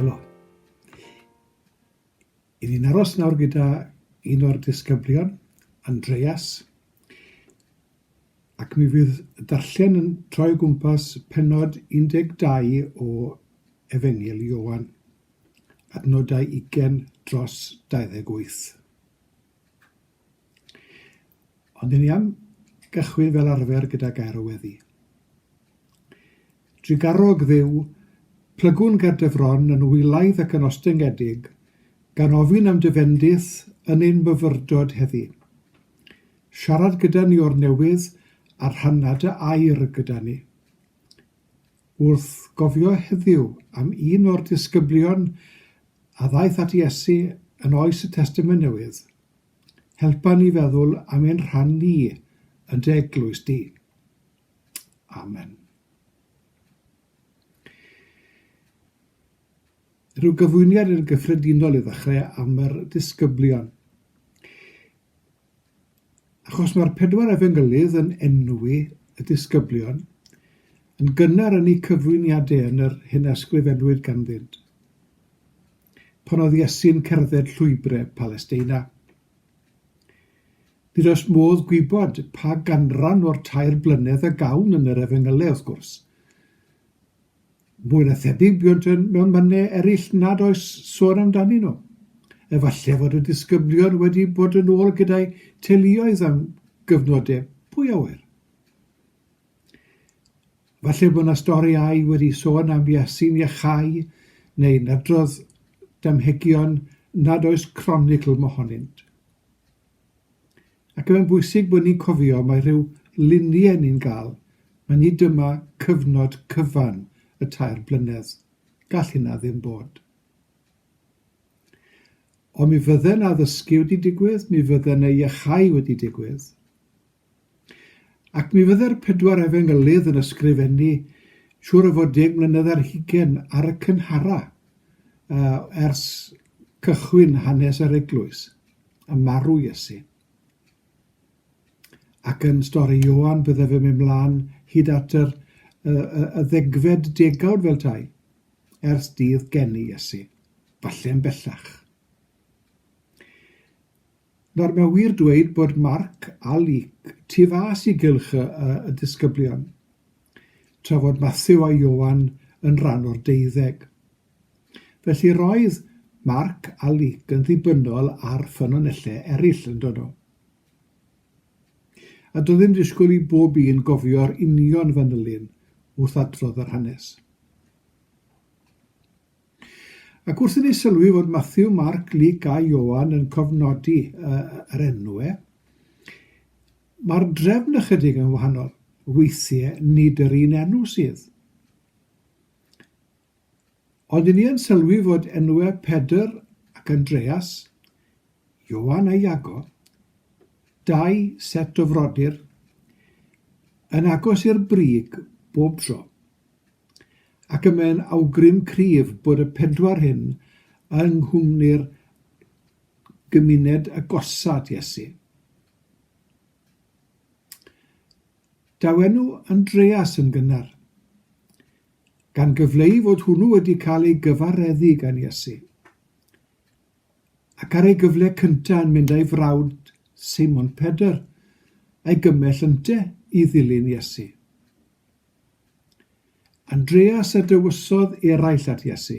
Helo. I ni'n aros nawr gyda un o'r disgyblion, Andreas, ac mi fydd y darllen yn troi o gwmpas penod 12 o Efengil Iowan, adnodau 20 dros 28. Ond dyn ni am gychwyn fel arfer gyda gair o weddi. Drugarog dduw, plygwn ger dy fron yn wylaidd ac yn ostyngedig, gan ofyn am dy fendith yn ein myfyrdod heddi. Siarad gyda ni o'r newydd a rhanna dy air gyda ni. Wrth gofio heddiw am un o'r disgyblion a ddaeth at Iesu yn oes y Testament Newydd, Helpa ni feddwl am ein rhan ni yn dy eglwys di. Amen. Rhyw gyfwyniad yn gyffredinol i ddechrau am yr disgyblion. Achos mae'r pedwar efengylydd yn enwi y disgyblion, yn gynnar yn eu cyfwyniadau yn yr hyn a ysgrifennwyd ganddynt. pan oedd Iesu'n cerdded llwybre Palesteina. Nid oes modd gwybod pa ganran o'r tair blynedd a gawn yn yr efengylau, wrth gwrs. Mwy na thebyg buont yn mewn mynne eraill nad oes sôn amdanyn nhw. Efallai fod y disgyblion wedi bod yn ôl gyda'i teuluoedd am gyfnodau pwy awyr. Falle bod 'na storïau wedi sôn am Yasin Yahai neu'n adrodd damhegion nad oes cronicl mohonynt. Ac mae'n bwysig bod ni'n cofio mai rhyw luniau ni'n gael, mae nid dyma cyfnod cyfan y tair blynedd, gall hynna ddim bod. Ond mi fydde 'na ddysgu wedi digwydd, mi fydde 'na iachau wedi digwydd. Ac mi fydde'r pedwar efengylydd yn ysgrifennu, siŵr o fod deg mlynedd ar hugain ar y cynhara, yy, ers cychwyn hanes yr eglwys, a marw Iesu. Ac yn stori Ioan, bydde fe'n mynd mlaen hyd at yr, y, y, y ddegfed degawd fel tai, ers dydd geni Iesu, falle'n bellach. Nawr, mae'n wir dweud bod Mark a Luc tu fas i gylch y, y, y disgyblion, tra fod Matthew a Ioan yn rhan o'r deuddeg. Felly roedd Mark a Luc yn ddibynnol ar ffynonellau eraill yn dono. A doedd ddim disgwyl i bob un gofio'r union fanylyn wrth adrodd yr hanes. Ac wrth i ni sylwi fod Matthew, Mark, Luke a Ioan yn cofnodi uh, yr enw e, mae'r drefn ychydig yn wahanol. Weithiau nid yr un enw sydd. Ond i ni yn sylwi fod enwau Pedr ac Andreas, Ioan a Iago, dau set o frodyr, yn agos i'r brig bob tro. Ac y mae'n awgrym cryf bod y pedwar hyn yng nghwmni'r gymuned agosa at Iesu. Daw enw Andreas yn gynnar, gan gyfleu fod hwnnw wedi cael ei gyfareddu gan Iesu, ac ar ei gyfle cyntaf yn mynd â'i frawd Simon Pedr a'i gymell ynte i ddilyn Iesu. Andreas a dewisodd eraill at Iesu.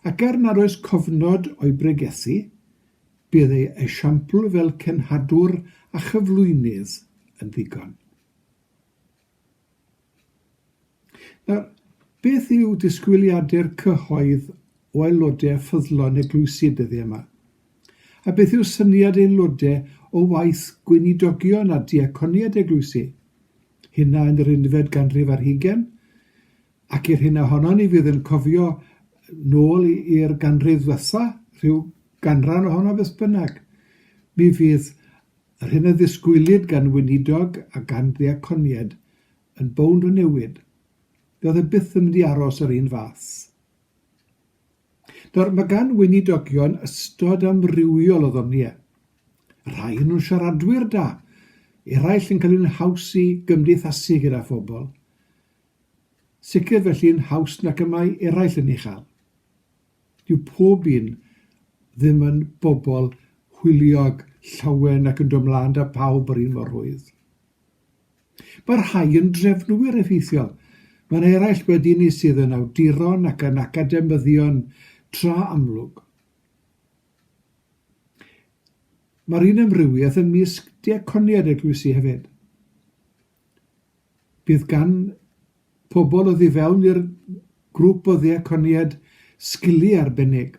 Ac er nad oes cofnod o'i bregethu, bydd ei esiampl fel cenhadwr a chyflwynydd yn ddigon. Nawr, beth yw disgwyliadau'r cyhoedd o aelodau ffyddlon eglwysi dyddi yma? A beth yw syniad aelodau o waith gweinidogion a diaconiaid eglwysi? hynna yn yr unfed ganrif ar hugen, ac i'r hyn ohono ni fydd yn cofio nôl i'r ganrif ddwetha, rhyw ganran ohono beth bynnag, mi fydd yr hyn a ddisgwylid gan weinidog a gan ddeaconied yn bownd o newid. Fe oedd e byth yn mynd i aros yr un fath. Nawr, mae gan weinidogion ystod amrywiol o ddoniau. Rhai yn nhw'n siaradwyr da, eraill yn cael un haws i gymdeithasu gyda phobl. Sicr felly yn haws nac y mae eraill yn ei chael. Dyw pob un ddim yn bobl hwyliog, llawen ac yn dod mlaen da pawb yr un mor rhwydd. Mae rhai yn drefnwyr effeithiol. Mae'n eraill wedi ni sydd yn awduron ac yn academyddion tra amlwg. Mae'r un amrywiaeth ym mysg diaconiad eglwysi hefyd. Bydd gan pobl oedd i fewn i'r grŵp o ddiaconiad sgiliau arbennig.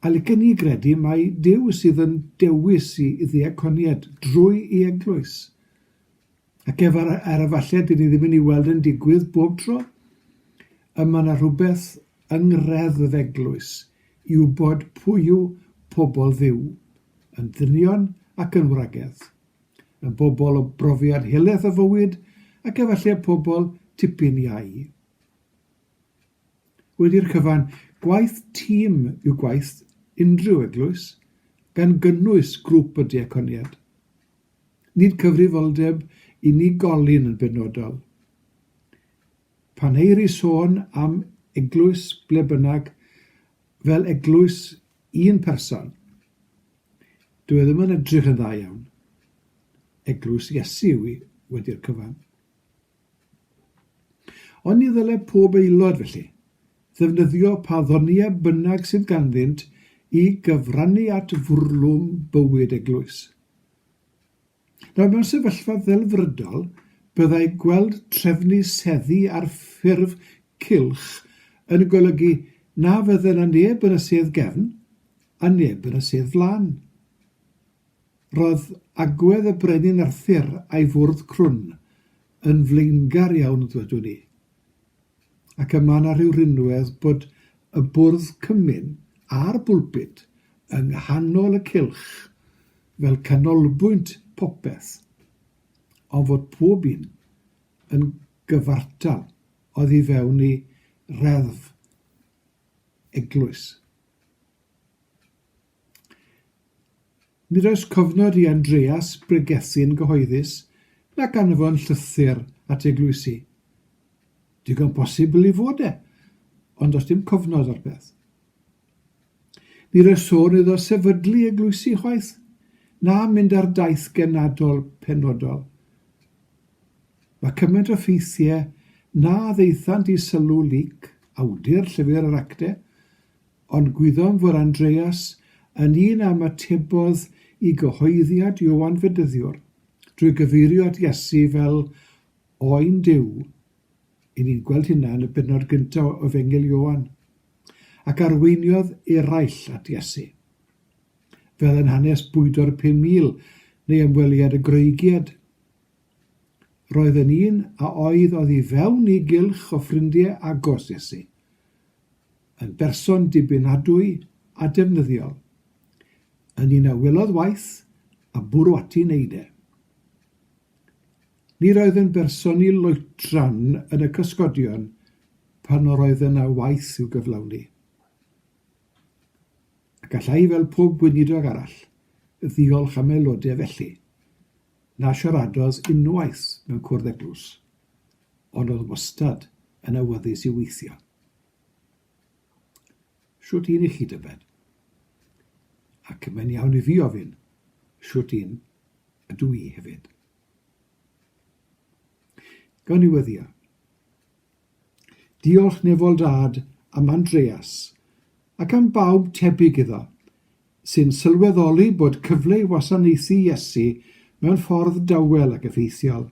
A licen ni gredu mai Duw sydd yn dewis i ddiaconiad drwy i eglwys. Ac ef ar, ar efallai dyn ni ddim yn ei weld yn digwydd bob tro. Y mae yna rhywbeth yng ngreddf eglwys i wybod pwy yw pobl ddiw, yn ddynion ac yn wragedd, yn bobl o brofiad helaeth o fywyd ac efallai pobl tipyn iau. Wedi'r cyfan, gwaith tîm yw gwaith unrhyw eglwys, gan gynnwys grŵp y diaconiad. Nid cyfrifoldeb unigolyn yn benodol. Pan eir i sôn am eglwys ble bynnag fel eglwys un person, dyw e ddim yn edrych yn dda iawn. Eglwys Iesu yw hi, wedi'r cyfan. Ond ni ddylai pob aelod, felly, ddefnyddio pa ddoniau bynnag sydd ganddynt i gyfrannu at fwrlwm bywyd eglwys. Nawr, mewn sefyllfa ddelfrydol, byddai gweld trefnu seddi ar ffurf cylch yn golygu na fydde na neb yn y sedd gefn a neb yn y sedd flaen. Roedd agwedd y Brenin Arthur a'i fwrdd crwn yn flaengar iawn, ddwedwn i, ac y mae 'na rhyw rinwedd bod y bwrdd cymun a'r bwlpud yng nghanol y cylch fel canolbwynt popeth, ond fod pob un yn gyfartal oddi fewn ei reddf eglwys. Nid oes cofnod i Andreas bregethu yn gyhoeddus nac anfon llythyr at eglwysi. Digon posibl ei fod e, ond does dim cofnod o'r peth. Nid oes sôn iddo sefydlu eglwysi chwaith, na mynd ar daith genadol penodol. Mae cymaint o ffeithiau na ddeithant i sylw Luc, awdur Llyfr yr Actau, Ond gwyddom fod Andreas yn un a ymatebodd i gyhoeddiad Ioan Fedyddiwr drwy gyfeirio at Iesu fel Oen Duw, i ni'n gweld hynna yn y bennod gynta o Efengyl Ioan, ac arweiniodd eraill at Iesu. Fel yn hanes bwydo'r 5,000 neu ymweliad y Groegiad. Roedd yn un a oedd oddi fewn i gylch o ffrindiau agos Iesu, yn berson dibynadwy a defnyddiol, yn un a welodd waith a bwrw ati wneud e. Nid oedd yn berson i loetran yn y cysgodion pan yr oedd yna waith i'w gyflawni. A gallai fel pob gweinidog arall ddiolch am aelodau felly, Na siaradodd unwaith mewn cwrdd eglwys, ond oedd wastad yn awyddus i weithio. Shwt un i chi, Dyfed? Ac mae'n iawn i fi ofyn shwt un ydw i hefyd. Gawn ni weddio. Diolch nefol dad am Andreas, ac am bawb tebyg iddo, sy'n sylweddoli bod cyfle i wasanaethu Iesu mewn ffordd dawel ac effeithiol.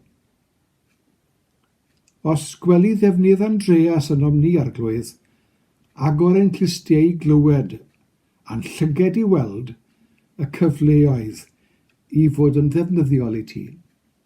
Os gweli ddefnydd Andreas ynom ni, Arglwydd, agor ein clustiau i glywed, a'n llyged i weld, y cyfleoedd i fod yn ddefnyddiol i ti.